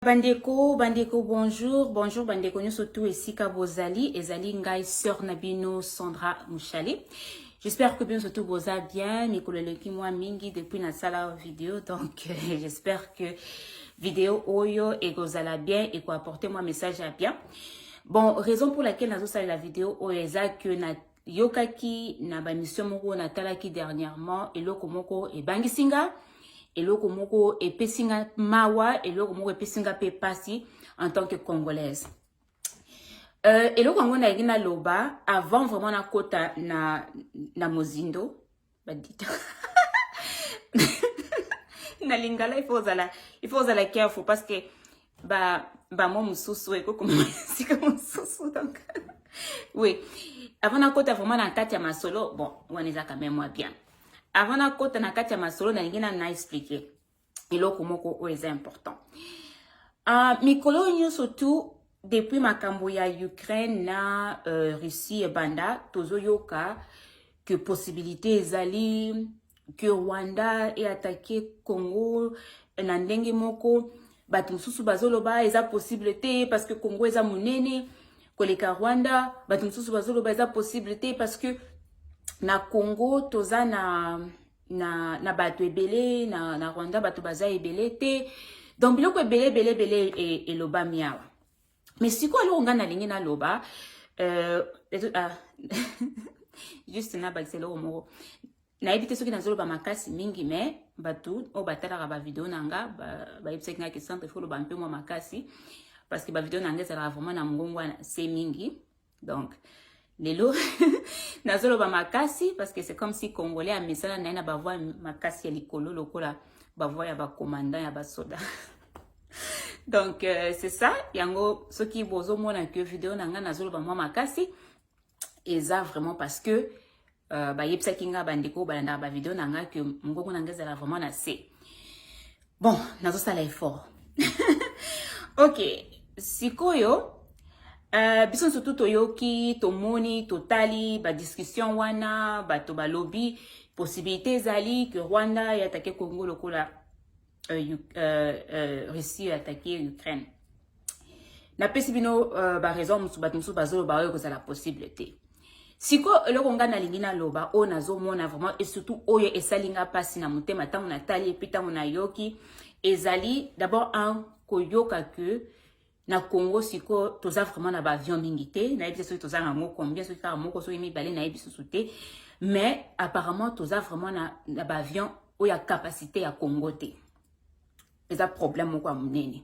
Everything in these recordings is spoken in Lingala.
bandeko bandeko bonjour bonjour bandeko nyonso tu esika bozali ezali ngai sœur na bino sandra mushale j'espère que bino surtout boza bien mikolo eleki mwa mingi depuis nasala video donc euh, j'espère que video oyo ekozala bien ekoapporte mwa message ya bien bon raison pour laquelle nazosalela video oyo eza que na yokaki na bamission moko natalaki dernièrement eloko moko ebangisi nga eloko moko epesi nga mawa eloko moko epesi nga mpe mpasi en tant que congolaise euh, eloko yango nalingi naloba avant vraiment nakota na, na mozindo badita na lingala il faut ozala il faut ozala careful parce que ba bamo mosusu ekokoma esika mosusu donc oui avant nakota vraiment na kati ya masolo bon wana eza quand même mwa bien avant nakota na kati ya masolo nalingi na na expliquer eloko moko oyo eza important uh, mikolo oyo nyonso tu depuis makambo ya ukraine na uh, russie ebanda tozoyoka que possibilité ezali que rwanda eatake congo na ndenge moko bato mosusu bazoloba eza possible te parce que congo eza monene koleka rwanda bato mosusu bazoloba eza possible te parce que na congo toza na na, na bato ebele na, na rwanda bato baza ebele te donc biloko ebele ebele ebele e, elobami awa mais sikoyo eloko ngai nalingi naloba euh, ah, juste nabakisa eloko moko nayebi te soki nazoloba makasi mingi mais bato oyo batalaka bavideo na nga bayebisaki ngai kesantre foloba mpe mwa makasi parce que bavideo na nga ezalaka vraiment na mongongo wana se mingi donc lelo nazoloba makasi parce que c'est comme si congolais amesana na ye na bavoi makasi ya likolo lokola bavoi ya bacommandant ya basoda donc euh, c'est ça yango soki bozomona que video na ngai nazoloba mwa makasi eza vraiment parce que Uh, bayebisaki nga bandeko balandaka bavideo na nga ke mongongo na nga ezala vraiment na se bon nazosala effort ok sikoyo uh, biso nso tu toyoki tomoni totali badiscussion wana bato balobi possibilité ezali ke rwanda yatake congo lokola euh, euh, euh, Russie attaquer Ukraine. Na pesi bino euh, ba raison musu bat musu bazolo ba ko la possible te. Siko eloko nga na lingi na loba o na zo mona vraiment et surtout oyo esalinga pasi na mutema tango na tali et puis tango na yoki ezali d'abord un koyoka que na Congo siko toza vraiment na ba avion mingi te nayebi te soki toza na yango combien soki kaka moko soki mibale nayebi susu te mais apparemment toza vraiment na, na ba avion oyo ya capacité ya Congo te eza problème moko ya monene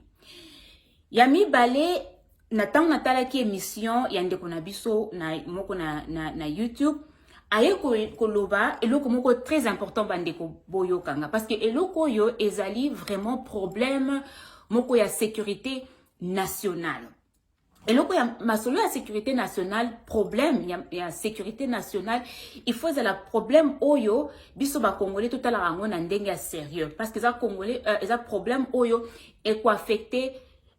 ya mibale na ntango natalaki émission ya ndeko na biso na moko na, na, na YouTube aye koloba eloko moko très important bandeko boyokanga parce que eloko oyo ezali vraiment problème moko ya sécurité nationale eloko ya masolo ya sécurité nationale problème ya, ya sécurité nationale il faut ezala problème oyo biso bacongolais totalaka yango na ndenge ya sérieux parce que eza congolais euh, eza problème oyo ekoaffecte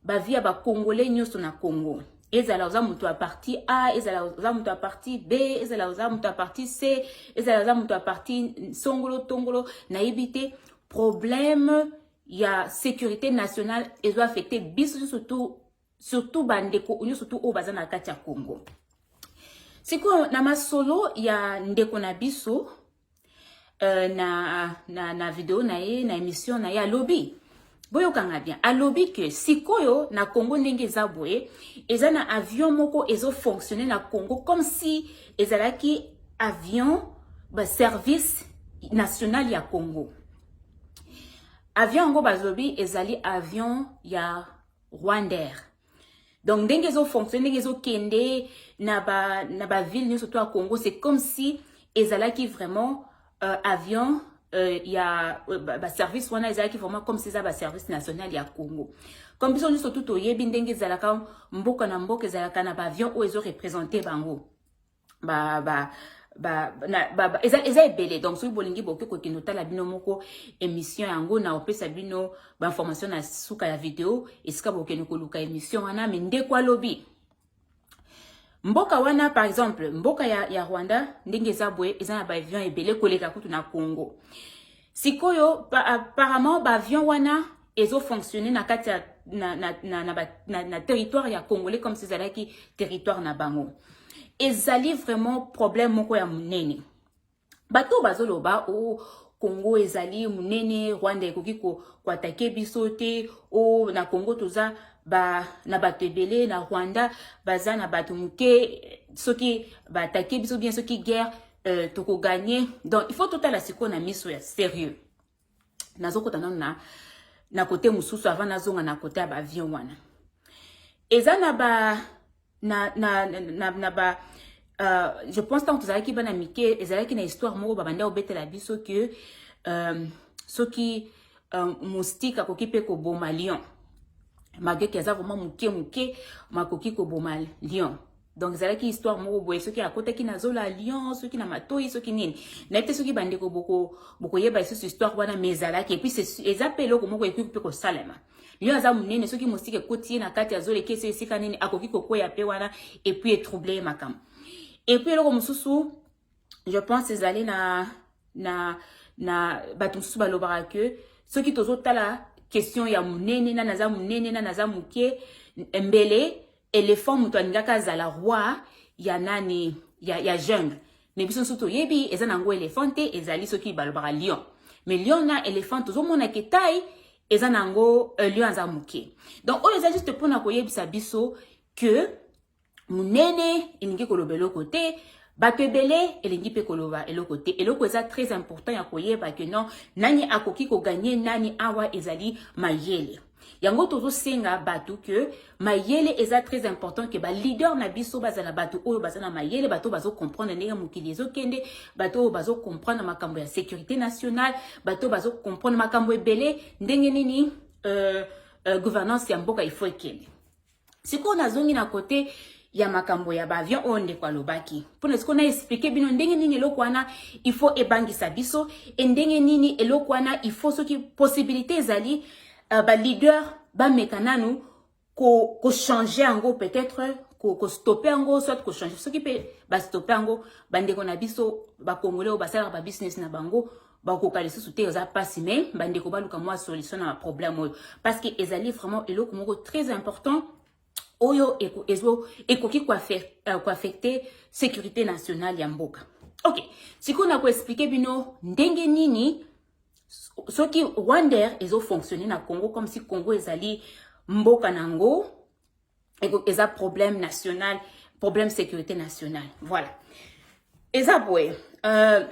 ba vie ya ba congolais nyoso na congo ezala oza moto ya parti a ezala oza moto ya parti b ezala oza moto ya parti c ezala oza moto ya parti songolo tongolo nayebi te problème ya sécurité nationale ezo affecte biso nyoso tu surtout bandeko nyonso tu oyo baza na kati ya congo sikoyo na masolo ya ndeko na biso Euh, na, na, na video na ye na émission na ye alobi boyokanga bien alobi ke sikoyo na congo ndenge eza boye eza na avion moko ezofonctionne na congo comme si ezalaki avion service national ya congo avion yango balobi ezali avion ya rwandair donc ndenge ezofonctionne ndenge ezokende na baville nyonso to ya congo c'est comme si ezalaki vraiment euh, avion euh, ya euh, baservice ba wana ezalaki vraiment comme si eza baservice national ya congo comme biso nyonso tu toyebi ndenge ezalaka mboka na mboka ezalaka na baavion oyo ezorepresente bango ba ba ba, na, ba, ba eza, eza ebele donc soki bolingi boke kokende otala bino moko émission yango na opesa bino bainformation na suka ya video esika bokende koluka émission wana me ndeko alobi mboka wana par exemple mboka ya, ya rwanda ndenge eza boye eza na baavion ebele koleka kutu na congo sikoyo pa, apparemment baavion wana ezo fonctionner na kati ya na, na, na, na, na, na territoire ya congolais comme si ezalaki territoire na bango ezali vraiment problème moko ya monene bato oyo bazoloba o oh, congo ezali monene rwanda ekoki koatake biso te o oh, na congo toza ba, na bato ebele na rwanda baza na bato moke soki baatake biso bien soki guerre euh, tokoganye donc il faut totala sikoyo na miso ya sérieux nazokota nano na, na kote mosusu avant nazonga na kote ya baavion wana eza na ba na, na, na, na, na ba uh, je pense ntango tozalaki bana mike ezalaki na histoire moko babandi kobetela biso ke um, soki um, moustique akoki mpe koboma lion mageke aza vraimen moke moke makoki koboma lion donc ezalaki histoire moko boye soki akotaki na zola ya lion soki na matoi soki nini nayebi te soki bandeko bokoyeba lisusu histoire wana mais ezalaki epuis eza mpe eloko moko ekoki mpe kosalema lion aza monene soki mosika ekoti ye na kati ya zola ekesi esika nini akoki kokweya mpe wana epuis etrouble ye makambo epuis eloko mosusu je pense ezali na na na bato mosusu balobaka ke soki tozotala question ya monene nani aza monene nani aza moke mbele elephant moto alingaki azala roi ya nani ya, ya jungle me biso nso toyebi eza na yango elephant te ezali soki balobaka lion me lion na elephant tozomona ke tai eza na yango euh, lion aza moke donc oyo eza juste mpona koyebisa biso que munene elingi koloba eloko te bato ebele elingi mpe koloba eloko te eloko eza très important ya koyeba ke non nani akoki koganye nani awa ezali mayele yango tozosenga bato ke mayele eza très important ke baleader na biso bazala bato oyo baza na mayele bato bazocomprendre ndenge mokili ezokende bato oyo bazocomprendre makambo ya sécurité nationale bato bazocomprendre makambo ebele ndenge nini euh, euh, gouvernance ya mboka ifo ekende sikoyo nazongi na kote ya makambo ya baavion oyo ndeko alobaki mpona sikoyo na explike bino ndenge nini eloko wana il faut ebangisa biso e ndenge nini eloko wana il faut soki possibilité ezali uh, baleader bameka nanu kochange ko yango peut-être kostope ko yango soit kochange soki mpe bastope yango bandeko na biso bakongole oyo basalaka babusiness na bango bakoka lisusu te eza mpasi mais bandeko baluka mwa solution na baproblème oyo parce que ezali vraiment eloko moko très important oyo ekoki koaffecte euh, sécurité nationale ya mboka ok sikoyo na koexplike bino ndenge nini soki rwander ezofonctionne na congo comme si congo ezali mboka na yango eza problème national problème sécurité nationale voilà eza boye euh,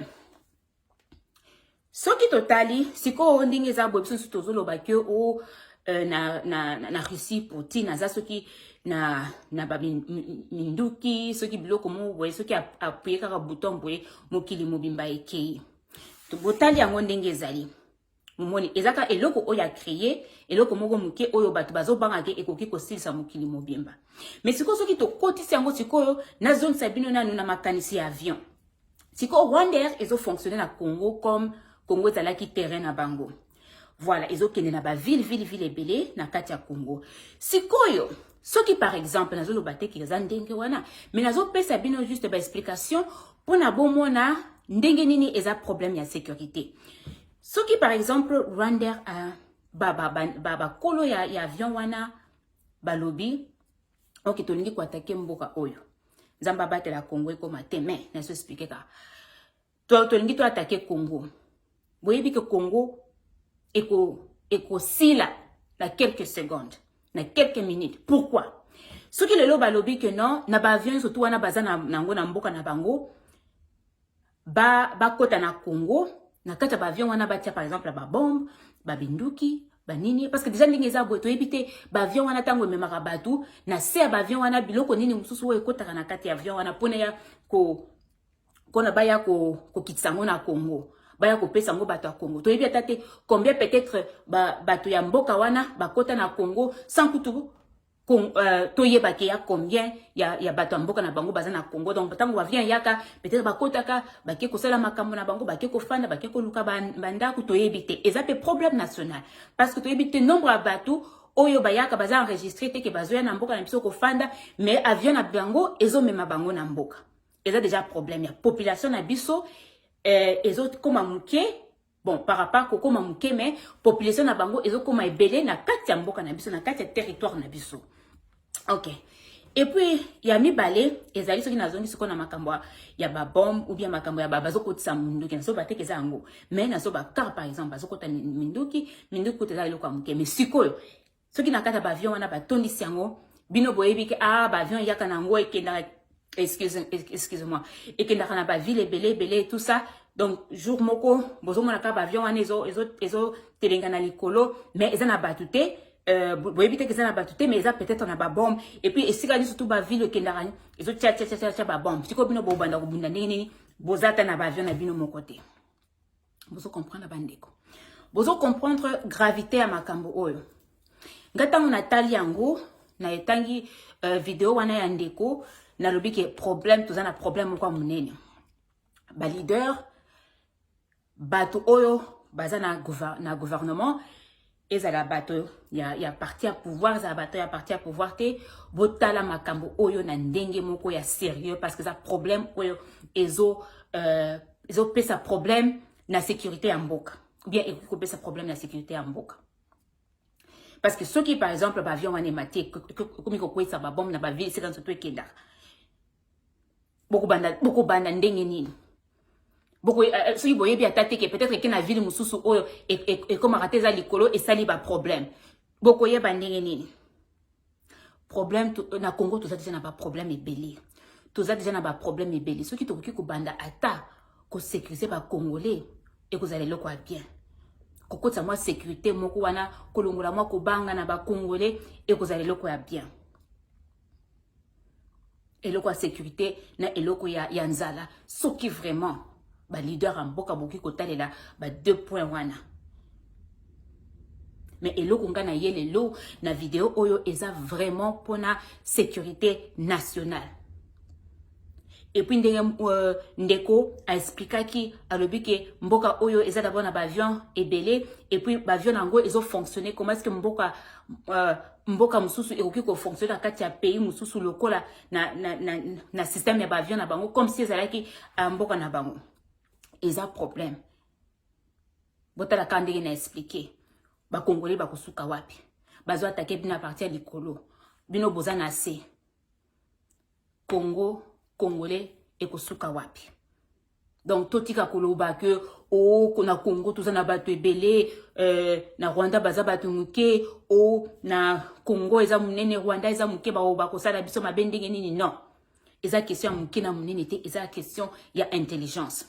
soki totali sikoyo ndenge eza boye biso nso tozoloba ke o oh, euh, na, na, na, na russie poutine aza soki na, na baminduki soki biloko moko boye soki apuye kaka bouton boye mokili mobimba ekei botali yango ndenge ezali momoni eza kaka eloko oyo acreye eloko moko moke oyo bato bazobanga te ekoki kosilisa mokili mobimba mais sikoyo soki tokotisi yango sikoyo nazongisa bino nanu na makanisi ya avion sikoyo rwandair ezofonctionne na congo comme congo ezalaki terrain na bango voilà ezokende na baville ville ville ebele na kati ya congo sikoyo soki par exemple nazoloba te ke eza ndenge wana mais nazopesa bino juste baexplication mpo na bomona ndenge nini eza problème ya sécurité soki par exemple rwander uh, bakolo ba, ba, ba, ya, ya avion wana balobi oke tolingi koatake mboka oyo nzambe abatela congo ekoma te mai nazo explike kaka To tolingi to attaquer Congo. Boyebi que Congo eko ekosila na quelques secondes, na quelques minutes. Pourquoi? Soki lelo balobi que non, na ba avions surtout wana baza na nango na mboka na bango, ba bakota na Congo, na kati ya ba avions wana batia par exemple ba bombe, ba binduki, banini parce que déjà ndenge eza boye toyebi te baavion wana ntango ememaka bato na se ya baavion wana biloko nini mosusu oyo ekotaka na kati ya avion wana mpona ya ko mpona baya kokitisa yango na congo baya kopesa yango bato ya congo toyebi ata te combien peut-être bato ya mboka wana bakota na congo sans kutu Euh, toyeba ke ya combien ya, ya bato ya mboka na bango baza na congo donc ntango bavien yaka peut-être bakotaka bake kosala makambo na bango bake kofanda bake koluka bandako toyebi te eza mpe problème national parce que toyebi te nombre ya bato oyo bayaka baza enregistre te ke bazoya na mboka na biso kofanda mais avion na bango ezomema bango na mboka eza deja problème ya population na biso eh, ezokoma moke bon par rapport kokoma moke mais population na bango ezokoma ebele na kati ya mboka na biso na kati ya territoire na biso ok epuis ya mibale ezali soki nazongi sikoyo na makambo ya babombe ou bien makambo ya bazokotisa minduki nazoba teke eza yango mais nazoba car par exemple bazokota minduki minduki kuta eza eloko ya moke mais sikoyo soki na kati ya baavion wana batondisi yango bino boyebi ke ah baavion eyaka na yango ekendaka excuse moi ekendaka na bavile ebele ebele tout ça donc jour moko bozomona kaka baavion wana ezotelenga na likolo mais eza na bato te Euh, boyebi te eza na bato te mais eza peut-être na babombe epuis esika nyonso to bavile ekendaka ezotia tiatiatiatia babombe sikoyo bino bobanda kobunda ndenge nini boza ata na baavion na bino moko te bozo comprendre bandeko bozo comprendre gravité ya makambo oyo nga ntango natali yango na etangi uh, video wana ya ndeko nalobi ke problème toza na problème moko ya monene baleader bato oyo baza na, gouver na gouvernement ezala bato ya, ya parti ya pouvoir ezala bato ya parti ya pouvoir te botala makambo oyo na ndenge moko ya sérieux parce que eza problème oyo ezo euh, ezopesa problème na sécurité ya mboka bien ekoki kopesa problème na sécurité ya mboka parce que soki par exemple baavion wana emati ekomi kokweyisa babombe na baville esika nso to ekendaka bokobanda bokobanda ndenge nini boko eh, eh, soki boyebi ata te ke peut-être eke na ville mosusu oyo e, e, ekomaka te eza likolo esali baproblème bokoyeba ndenge nini problème euh, na congo toza deja na baproblème ebele toza deja na baproblème ebele soki tokoki kobanda ata kosécurise bacongolais ekozala eloko ya bien kokotisa mwa sécurité moko wana kolongola mwa kobanga na bacongolais ekozala eloko ya bien eloko ya sécurité na eloko ya, ya nzala soki vraiment baleader ya mboka bokoki kotalela ba deux point wana me eloko ngai na ye lelo na video oyo eza vraiment mpona sécurité nationale epuis ndenge euh, ndeko aexplikaki alobi ke mboka oyo eza dabord na baavion ebele epuis baavion na yango ezofonctionne comment est ce que mboka euh, mboka mosusu ekoki kofonctionne na kati ya pays mosusu lokola na, na, na, na système ya baavion na bango comme si ezalaki uh, mboka na bango eza problème botalaka ndenge na explike bakongole bakosuka wapi bazo atake bino aparti ya likolo bino boza na se congo congolais ekosuka wapi donc totika koloba ke o oh, na congo toza na bato ebele euh, na rwanda baza bato moke o oh, na congo eza monene rwanda eza moke baoyo bakosala biso mabe ndenge nini non eza question ya moke na monene te eza question ya intelligence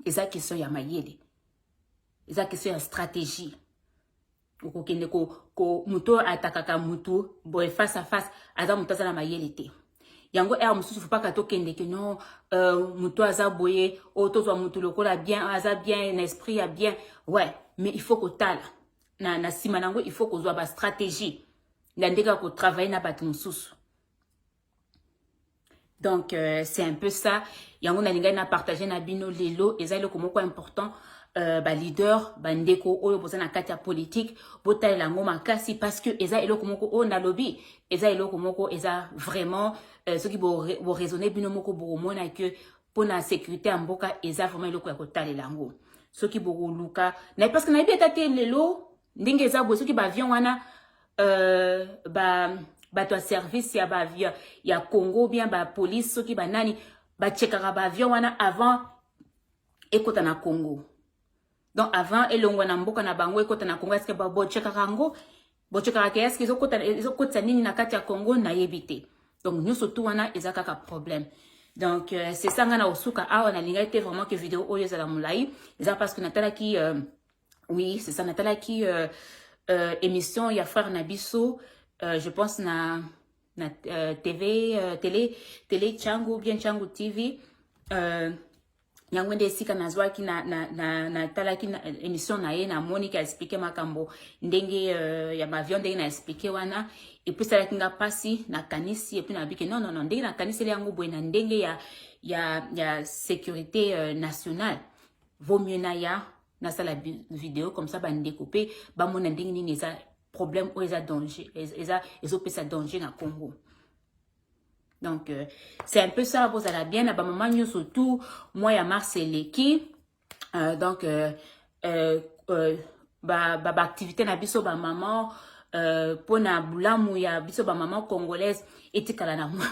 eza question ya mayele eza question ya stratégie okokende ko, ko moto oyo atakaka motu boye face à face aza moto aza na mayele te yango ere mosusu fopaka tokende ke no euh, moto aza boye oyo tozwa motu lokola bien aza bien na esprit ya bien ouais mais il faut kotala na, na nsima na yango il faut kozwa bastratégie na ndenge ya kotravaille na bato mosusu donc euh, c'est un peu ça yango nalingaki na partage na bino lelo eza eloko moko important Euh, baleader bandeko oyo boza na kati ya politike botalela yango makasi parce que eza eloko moko oyo nalobi eza eloko moko eza vraiment euh, soki boraisonne bo bino moko bokomona ke mpona sécurité ya mboka eza vraiment eloko ya kotalela yango soki bokoluka parce que nayebi ata te lelo ndenge eza boye soki baavion wana euh, ba bato ya service ya, ba, ya, ya congo bien bapolice soki banani bachekaka baavion wana avant ekota na congo donc avant elongwa na mboka na bango ekota na congo eske bochekaka yango bochekaka ke eske ezokotisa nini na kati ya congo nayebi te donc nyonso tu wana eza kaka problème donc euh, c'est ça nga na osuka awa nalingaki te vraiment ke video oyo ezala molai eza parce que natalaki euh, Oui, c'est ça. Natalaki euh, euh, émission ya frère Nabiso, euh, je pense na na euh, TV euh, télé télé Changu bien Changu TV. Euh, yango nde esika nazwaki na, na, na, na talaki na, émission na ye namoni ke explike makambo ndenge euh, ya bavion ndenge na explike wana epesalaki nga mpasi nakanisi epuis nabike non non non ndenge nakaniseli yango boye na ndenge ya, ya, ya sécurité euh, nationale vaut mieux naya nasala video comme ça bandeko mpe bamona ndenge nini eza problème oyo eza danger eza ezopesa danger na congo donc euh, c'est un peu ça bozala bien na bamama nyonso tout mois ya mars eleki euh, donc euh, euh, euh, baactivité ba, ba na biso bamama euh, mpo na bolamu ya biso bamama congolaise etikala na mwa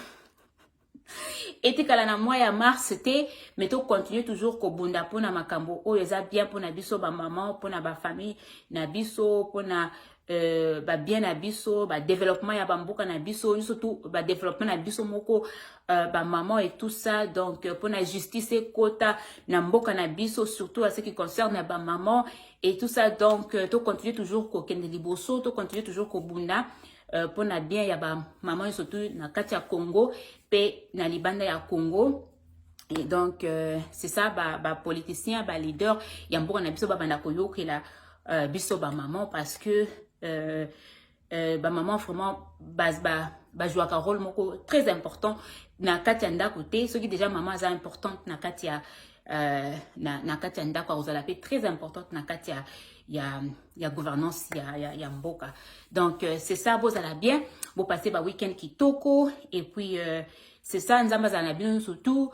etikala na mois ya mars te mais tocontinue toujours kobunda mpona makambo oyo eza bien mpona biso bamama mpona bafamille na biso mpona euh, babien na biso badeveloppement ya bamboka na biso nyonso tu badeveloppement na biso moko euh, bamama et tout ça donc mpona euh, justice ekota na mboka na biso surtout à ce qui concerne bamama et tout ça donc tocontinue toujours kokende liboso tocontinue toujours kobunda Euh, mpo na bien ya bamama nyonso tu na kati ya congo mpe na libanda ya congo et donc euh, c'est ça bapoliticien ba baleader ya mboka na biso babanda koyokela euh, biso bamama parce que euh, euh, bamama vraiment bajouaka ba, ba, ba rôle moko très important na kati ya ndako te soki déjà mama aza importante na kati ya euh, na, na kati ya ndako akozala mpe très importante na kati ya ya, ya gouvernance ya, ya, ya mboka donc euh, c'est ça bozala bien bopase ba week-end kitoko et puis euh, c'est ça nzambe azala na bino surtout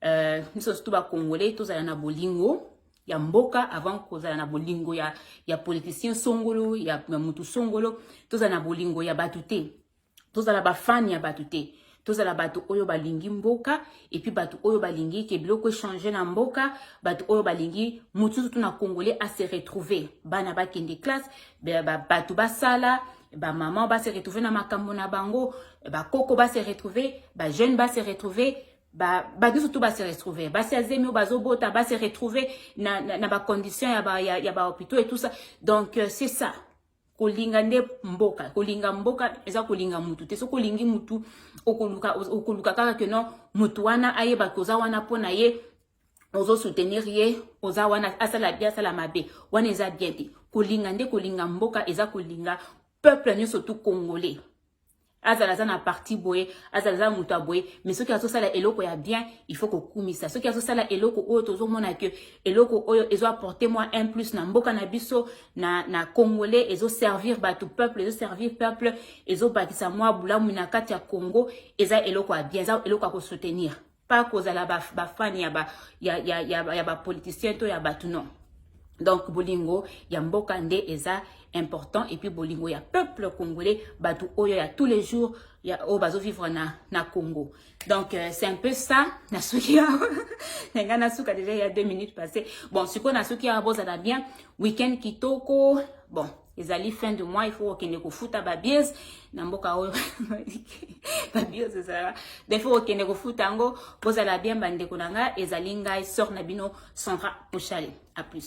euh, biso surtout bacongolais tozala na bolingo ya mboka avant kozala na bolingo ya, ya politicien songolo ya, ya mutu songolo tozala na bolingo ya bato te tozala bafani ya bato te tozala bato oyo balingi mboka epuis bato oyo balingi ke biloko echange na mboka bato oyo balingi motu nzotu na congolais ase retrouve bana bakende classe bato basala bamama base retrouve na makambo na bango bakoko base retrouve bajeune base retrouve bato surtout base retrouve basi ya zemi oyo bazobota base retrouve na, na, na bacondition ya bahopitaux ba et tout ça donc euh, c'est ça kolinga nde mboka kolinga mboka eza kolinga mutu te soki olingi mutu okoluka okoluka kaka ke non mutu wana ayeba ke oza wana mpo na ye ozo soutenir ye oza wana asala bien asala mabe wana eza bien te kolinga nde kolinga mboka eza kolinga peuple nyonso tu congolais azala aza na parti boye azala aza moto ya boye mais soki azosala eloko ya bien il faut kokumisa soki azosala eloko oyo tozomona ke eloko oyo ezo apporte mwa un plus na mboka na biso na, na congolais ezoservir bato peuple ezoservir peuple ezobakisa mwa bolamu na kati ya congo eza eloko ya bien eza eloko ya kosoutenir pas kozala ba, ba fan ya ba ya ya ya, ya ba politiciens to ya batu non donc bolingo ya mboka nde eza important et puis bolingo ya peuple congolais batu oyo ya tous les jours ya oyo bazo vivre na na Congo donc euh, c'est un peu ça na suki ya na nga na suka déjà il y a deux minutes passées bon sikoyo na suki ya bozala bien week-end kitoko bon ezali fin de mois il faut kokende kofuta babies na mboka oyo babies ezala il faut kokende kofuta yango bozala bien bandeko na ngai ezali ngai sort na bino sandra pochale a plus